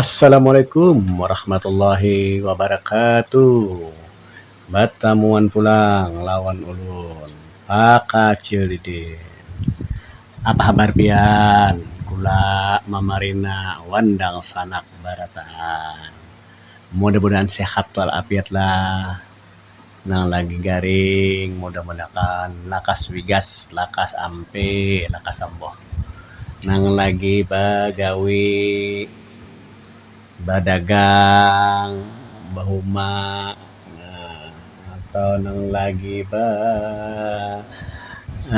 Assalamualaikum warahmatullahi wabarakatuh batamuan pulang lawan ulun pakacil didin apa habar pian kula mamarina wan dangsanak barataan mudah mudahan sehat walafiat lah. nang lagi garing mudah mudahkan lakas wigas lakas ampe lakas amboh nang lagi bagawi badagang bahuma atau nang lagi ba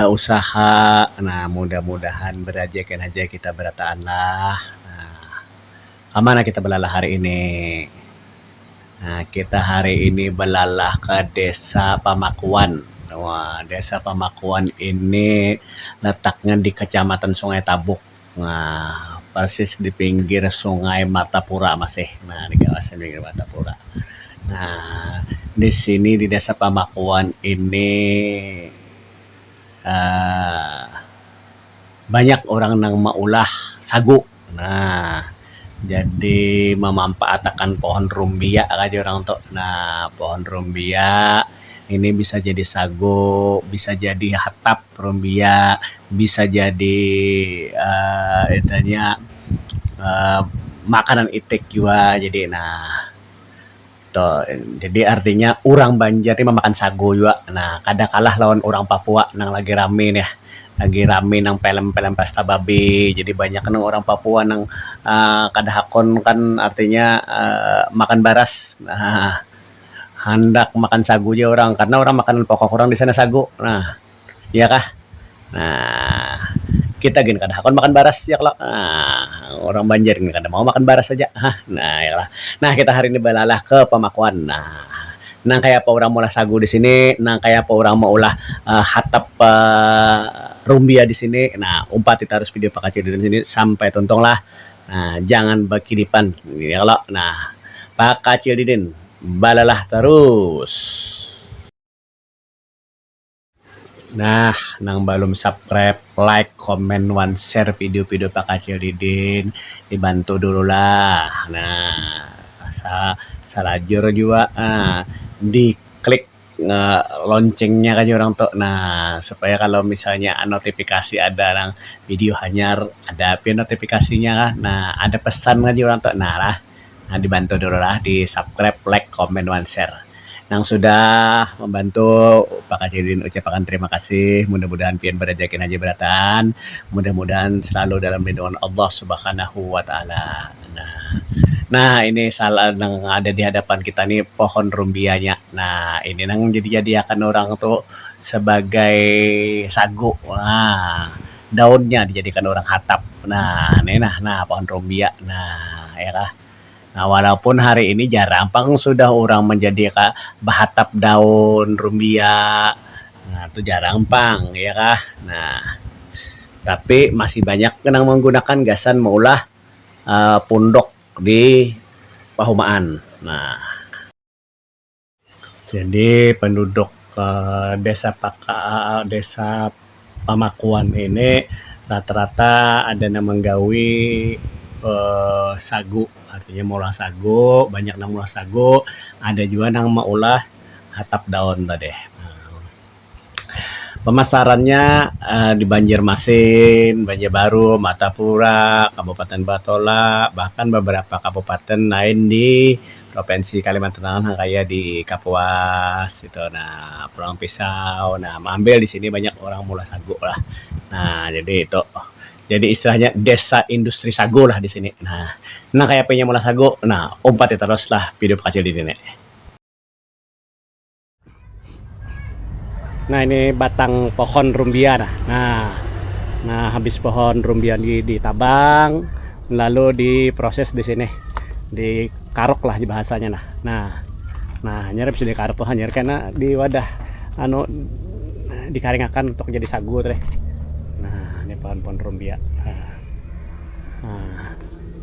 usaha nah mudah mudahan barajakan haja kita barataan lah nah. Kamana kita balalah hari ini? Nah, kita hari ini balalah ka Desa Pamakuan. Wah, Desa Pamakuan ini letaknya di Kecamatan Sungai Tabuk. Nah, persis di pinggir Sungai Martapura masih. Nah, di kawasan Sungai Martapura. Nah, di sini di Desa Pamakuan ini Um banyak urang nang maulah sagu. Nah, jadi mamampaatakan pohon rumbia kah jar urang tu. Nah, pohon rumbia ini bisa jadi sagu, bisa jadi hatap rumbia, bisa jadi um itu nya um makanan itik jua jadi nah. Jadi artinya urang banjar nih mamakan sagu jua nah kada kalah lawan urang papua nang lagi rami nih lagi rami nang pelem pelem pesta babi jadi banyak nang urang papua nang um kada hakun kan artinya um makan baras um handak makan sagu ja urang karna urang makanan pokok urang disana sagu nah. Iya kah? Nah, kita gin kada hakun makan baras ya klo. Nah, urang Banjar gin kada mau makan baras haja. Hah. Nah, ya klo. Nah, kita hari ini balalah ke pamakuan. Nah, nang kaya apa urang maulah sagu di sini, nang kaya apa urang maulah hatap rumbia di sini. Nah, umpati tarus video pakaciliran ini sampai tuntung lah. Nah, jangan bakidipan ya klo. Nah, Pakacil Didin balalah tarus. Nah, nang balum subscribe, like, comment, wan share video-video Pak Kacil Didin, dibantu dulu lah. Nah, sa salajur jua ah di klik ah loncengnya ka urang tu nah supaya kalau misalnya notifikasi ada nang video hanyar ada pian notifikasinya ka nah ada pesan ka urang tu nah lah. Nah dibantu dulu lah di subscribe, like, comment wan share. Nang sudah membantu Upaka Sidin ucap akan terima kasih. Mudah mudahan pian berajaki nang haja berataan. Mudah mudahan selalu dalam lindungan Allah subhanahu wa taala. Nah nah ini salah nang ada di hadapan kita ni pohon rumbia nya. Nah ini nang jadi jadi akan orang tu sebagai sagu. Nah. daunnya dijadikan urang hatap nah ni nah nah pohon rumbia nah ya kah nah walaupun hari ini jarang pang sudah urang manjadi ka bahatap daun rumbia nah tu jarang pang ya kah nah tapi masih banyak ga nang manggunakan gasan maulah um punduk di pahumaan nah. Jadi penduduk Um desa Pakaa- desa Pamakuan ini rata-rata ada nang menggawi Um sagu, artinya maulah sagu, banyak nang maulah sagu, ada jua nang maulah hatap daun tadi. Um. Pamasarannya di Banjarmasin, Banjarbaru, Martapura, Kabupaten Batolah, bahkan beberapa kabupaten lain di provinsi Kalimantan Tengah kaya di Kapuas itu nah Pulang Pisau nah maambil di sini banyak orang maulah sagu lah nah jadi itu jadi istilahnya desa industri sagu lah di sini nah nang kayapa inya maulah sagu nah umpati tarus lah pidop kacil di sini. Nah ini batang pohon rumbia nah. Nah, nah habis pohon rumbia di ditabang lalu diproses di sini. Di karok lah bahasanya nah. Nah, nah hanyar bisa dikarok tuh hanyar karena di wadah anu dikaringakan untuk jadi sagu tadi. Nah, ini pohon-pohon rumbia. Nah. nah.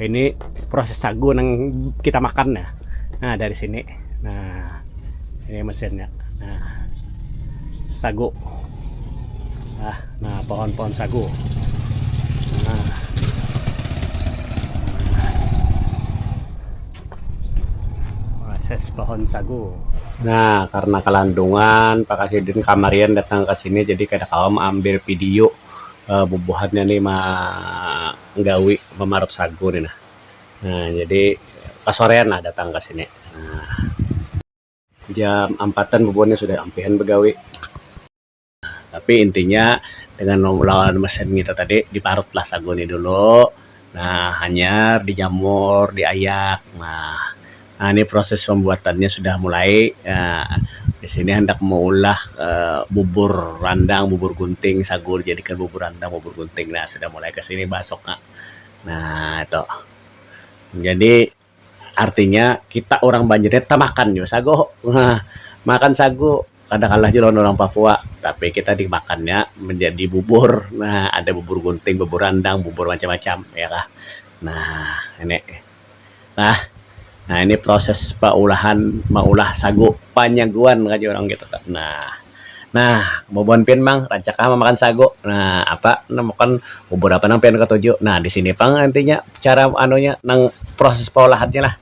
ini proses sagu yang kita makan ya nah dari sini nah ini mesinnya nah sagu nah, nah pohon-pohon sagu nah proses pohon sagu nah karena kelandungan Pak Kasidin kamarian datang ke sini jadi kada kaum ambil video um bubuhannya ni ma-gawi mamarut sagu ni nah um jadi kasorean lah datang ka sini um jam ampatan bubuhan ni sudah ampihan bagawi tapi intinya dengan lawan mesin ngitu tadi diparut lah sagu ni dulu. Nah, hanyar dijamur, diayak. Nah, ini proses pembuatannya sudah mulai. Di sini handak meulah bubur randang, bubur gunting, sagu dijadikan bubur randang, bubur gunting. Nah, sudah mulai ke sini basuknya. Nah, itu. Jadi. Artinya kita urang Banjar nih tamakan jua sagu. Nah, makan sagu kada kalah jua lawan urang Papua, tapi kita dimakannya manjadi bubur. Nah, ada bubur gunting, bubur randang, bubur macam-macam, ya kah. Nah, ini. Nah, nah ini proses paulahan maulah sagu panyaguan ngarannya urang kita tuh. Nah. Nah, bubuhan pian pang, rancak ha mamakan sagu. Nah, apa nang bukan bubur apa nang pian katuju. Nah, di sini pang intinya cara anunya nang proses pengolahannya lah.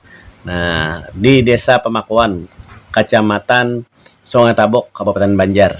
Nah, di Desa Pamakuan, Kacamatan Sungai Tabuk, Kabupaten Banjar.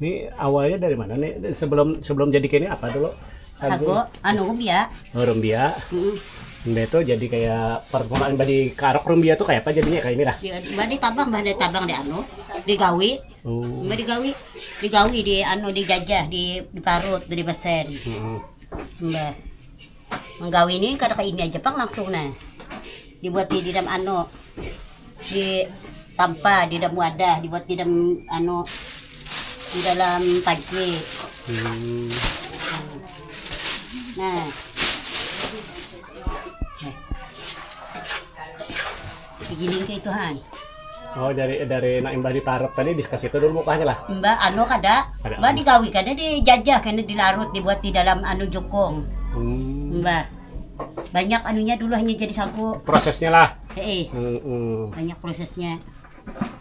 Ni awalnya dari mana nih? Sebelum sebelum jadi kayak ini apa dulu? Sagu, anu rumbia. Oh, rumbia. Mm. Rumbia itu jadi kayak permulaan badi karok rumbia tuh kayak apa jadinya kayak ini lah. Ya, badi tabang, badi tabang di anu, digawi. Oh. Badi gawi, digawi di anu dijajah, di diparut, di besen. Hmm. Mbah. menggawi ini kada ke ini aja pang langsung nah dibuat di didam anu di tampa di dalam wadah dibuat di dalam anu di dalam panci hmm. nah Digiling cai itu han. Oh dari dari nak imbah diparut tadi di kasitu dulu mukahnya lah. Mbak anu kada, Kada mbak anu. digawi kada dijajah kena dilarut dibuat di dalam anu jukung. Hmm. Mbak banyak anunya dulu hanya jadi sagu. Prosesnya lah. Heeh. Hmm. Banyak prosesnya.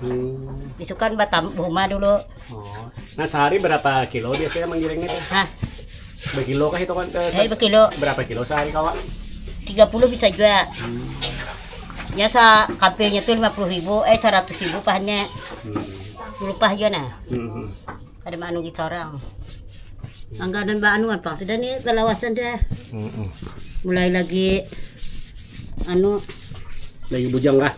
Hmm. Besok kan batam rumah dulu. Oh. Nah sehari berapa kilo biasanya menggiringnya? Hah? Berkilo kah itu kan? Eh, eh berkilo. Berapa kilo sehari kawan? 30 bisa juga. Hmm. Ya sa kampenya tuh 50 ribu, eh 100 ribu pahannya. Hmm. Dulu pah juga nah. Hmm. Ada manu kita orang. Angga dan Mbak Anu apa? Sudah nih kelawasan dah. Hmm. Mulai lagi anu lagi bujang kah?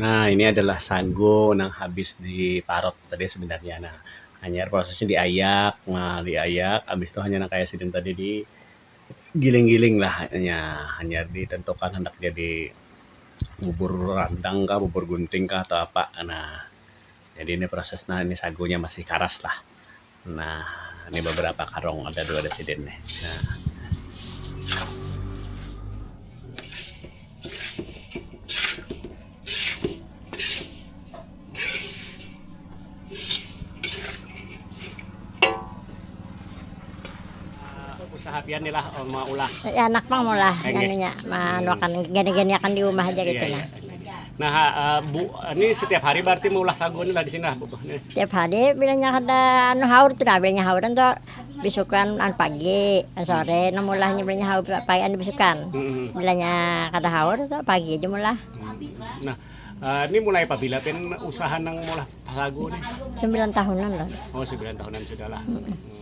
Nah, ini adalah sagu nang habis diparut tadi sebenarnya. Nah, hanyar prosesnya diayak, nah diayak habis tu hanyar nang kaya sidin tadi digiling-giling lah hanya, hanyar ditentukan handak jadi bubur randang kah, bubur gunting kah atau apa. Nah, jadi ini proses nang sagunya masih karas lah. Nah, ini beberapa karung ada dua ada sidin nih. Nah. usaha pian nih lah mau ulah ya anak mau ulah jadinya hmm. gini-gini akan di rumah aja gitu iya, nah iya. Nah, uh, Bu, ini setiap hari berarti meulah sagu ini lah di sini lah, Bu. Setiap hari bilanya ada anu haur tuh lah, bilanya hauran tuh bisukan an pagi, an sore, nah mulahnya bilanya haur pagi an bisukan. Hmm. Bilanya kada haur tuh pagi aja mulah. Hmm. Nah, Uh, ini mulai apabila pin usaha nang mulah sagu nih? Sembilan tahunan lah. Oh, sembilan tahunan sudah lah. Hmm.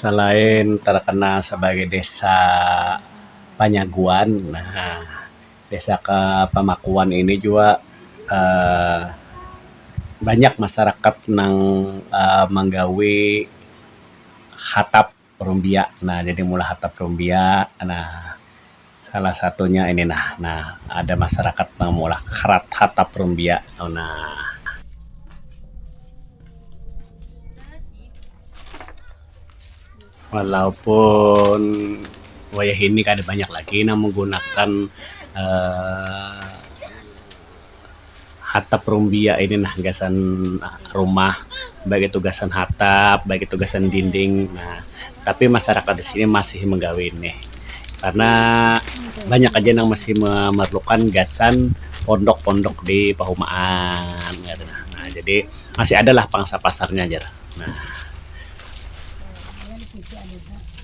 Salain tarkanal sabagai desa panyaguan, desa kapamakuan ini jua banyak masarakat nang manggawi hatap rumbia. Nah, jadi maulah hatap rumbia. Nah. Salah satunya ini nah, nah ada masarakat nang maulah krat hatap rumbia tu nah. Walaupun wayah ini kada banyak lagi nang menggunakan Um. hatap rumbia ini nah gasan rumah baik itu gasan hatap baik itu gasan dinding nah tapi masarakat di sini masih menggawe ini karna banyak aja nang masih memerlukan gasan pondok-pondok di pahumaan kaytu nah. Nah jadi masih ada lah pangsa pasarnya jar nah.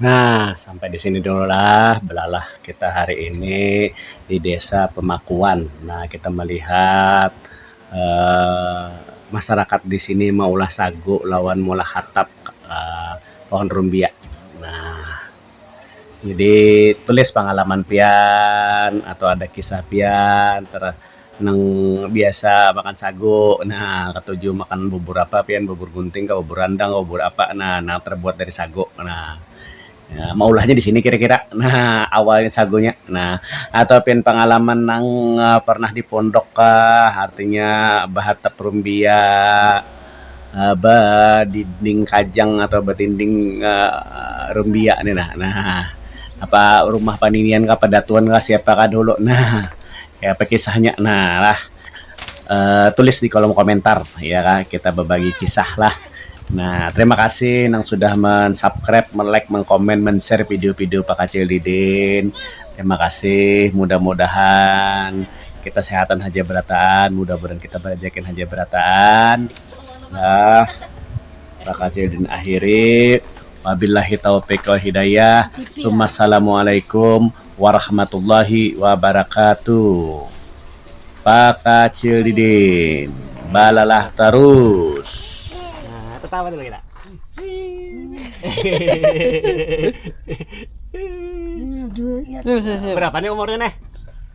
Nah, sampai di sini dulu lah belalah kita hari ini di Desa Pemakuan. Nah, kita melihat Um masyarakat di sini maulah sagu lawan maulah hatap Um pohon rumbia. Nah, jadi tulis pangalaman pian atau ada kisah pian Nang biasa makan sagu, nah katuju makan bubur apa pian, bubur gunting kah, bubur randang kah, bubur apa nah nang terbuat dari sagu nah maulahnya di sini kira-kira nah awalnya sagunya nah atau pian pangalaman nang pernah di pondok kah artinya bahatap rumbia. badinding kajang atau badinding rumbiak ni nah nah apa rumah paninian kah padatuan kah siapa kah dahulu nah kaya apa kisahnya nah lah um tulis di kolom komentar iya kah kita babagi kisah lah nah terima kasih nang sudah mensubscribe melike mengkomen menshare video video pakacil didin terima kasih mudah mudahan. Kita sehatan haja berataan, mudah mudahan kita barejekin haja berataan. Nah, bakal cedin akhiri. Wabillahi taufiq wal hidayah. Sumassalamualaikum warahmatullahi wabarakatuh. Pakacil didin balalah tarus. Nah, tetawa dulu kita. Berapa nih umurnya nih?